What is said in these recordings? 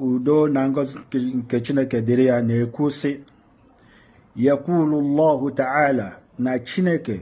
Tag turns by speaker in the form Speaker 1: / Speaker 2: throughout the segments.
Speaker 1: udo na ngọzi nke chineke dịrị ya na-ekwu sị yakwulu llahu ta'ala na chineke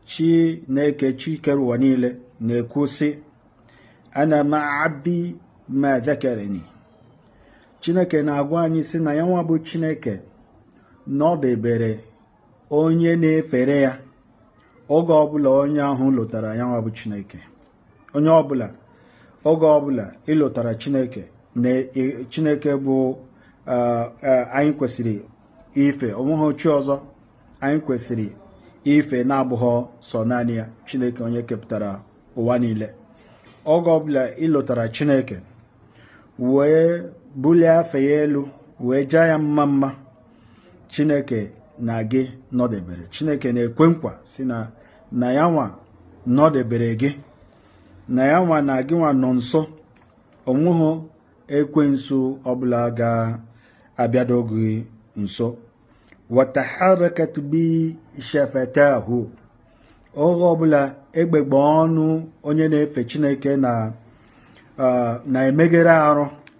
Speaker 1: chineke chi kere ụwa niile na-ekwu sị ana ma'a abdi ma zakarani chineke na-agwa anyị sị na ya nwa bụ chineke nọdebere onye na-efere ya oge ọbụla onye ahụ lotara ya nwa bụ chineke onye ọbụla oge ọbụla i lotara chineke na chineke bụ anyị kwesịrị ife onweghọ chi ọzọ anyị kwesịrị ife na-abụghọ sọ naanị ya chineke onye kepụtara ụwa niile oge ọbụla i lotara chineke wee bulie afa ya elu wee jaa ya mma mma chineke na gị nọdebere chineke na-ekwe nkwa si na na ya nwa nọdebere gị na ya nwa na gị nwa nọ nso onweghị ekwensu ọbụla ga-abịado gị nso wa taharrakat bi shafatahu oge ọbụla egbegbe ọnụ onye na-efe chineke na na-emegharị arụ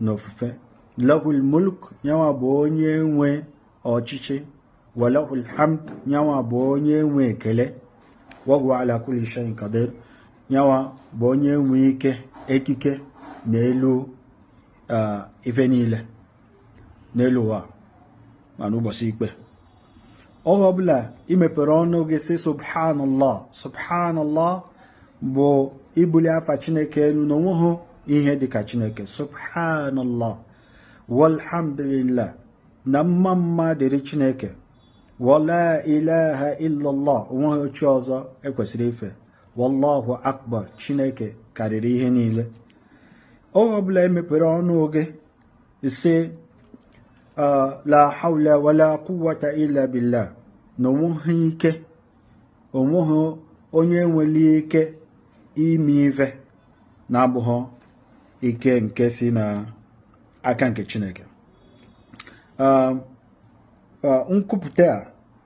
Speaker 1: na ofufe lahul mulk yanwa bụ onye nwe ọchịchị walahul hamd yanwa bụ onye nwe ekele wahuwa ala kulli shay'in qadir yanwa bụ onye nwe ike ekike na elu ife niile n'elu ụwa ma n'ụbọsị ikpe oge ọbụla ị mepere ọnụ gị sị subhanallah subhanallah bụ ibuli afa chineke elu na onweghị ihe dịka chineke subhanallah walhamdulillah na mma mma dịrị chineke wala ilaha illallah onweghọ chi ọzọ ekwesịrị ife wallahu akbar chineke karịrị ihe niile oge ọbụla ị mepere ọnụ gị Ị sị, uh, La hawla wa la quwwata illa billah. Na onweghị ike, onweghị onye nwere ike ime ife na-abụghị ike nke si na aka nke Chineke. Um, uh, nkwupụta a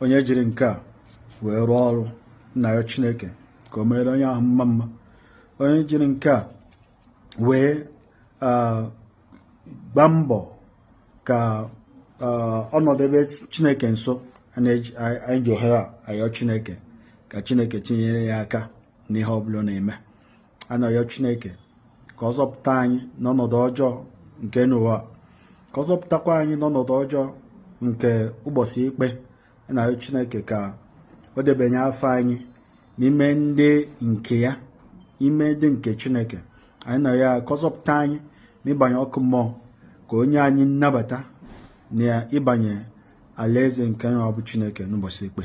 Speaker 1: onye jiri nke a wee rụọ ọrụ na-ayọ chineke ka o meere onye ahụ mma mma onye jiri nke a wee gbaa mbọ ka ọ nọdebe chineke nso anyị ji ohere a ayọ chineke ka chineke tinyere ya aka n'ihe ọ bụla ọ na-eme a na-ayọ Chineke ka ọ zọpụta anyị n'ọnọdụ ọjọọ nke n'ụwa ka ọ zọpụtakwa anyị n'ọnọdụ ọjọọ nke ụbọsị ikpe a na-ayọ Chineke ka o debanye afa anyị n'ime ndị nke ya ime ndị nke Chineke anyị na-ayọ ka ọ zọpụta anyị n'ịbanye ọkụ mmụọ ka o nye anyị nnabata na ịbanye alaeze nke nwa bụ Chineke n'ụbọsị ikpe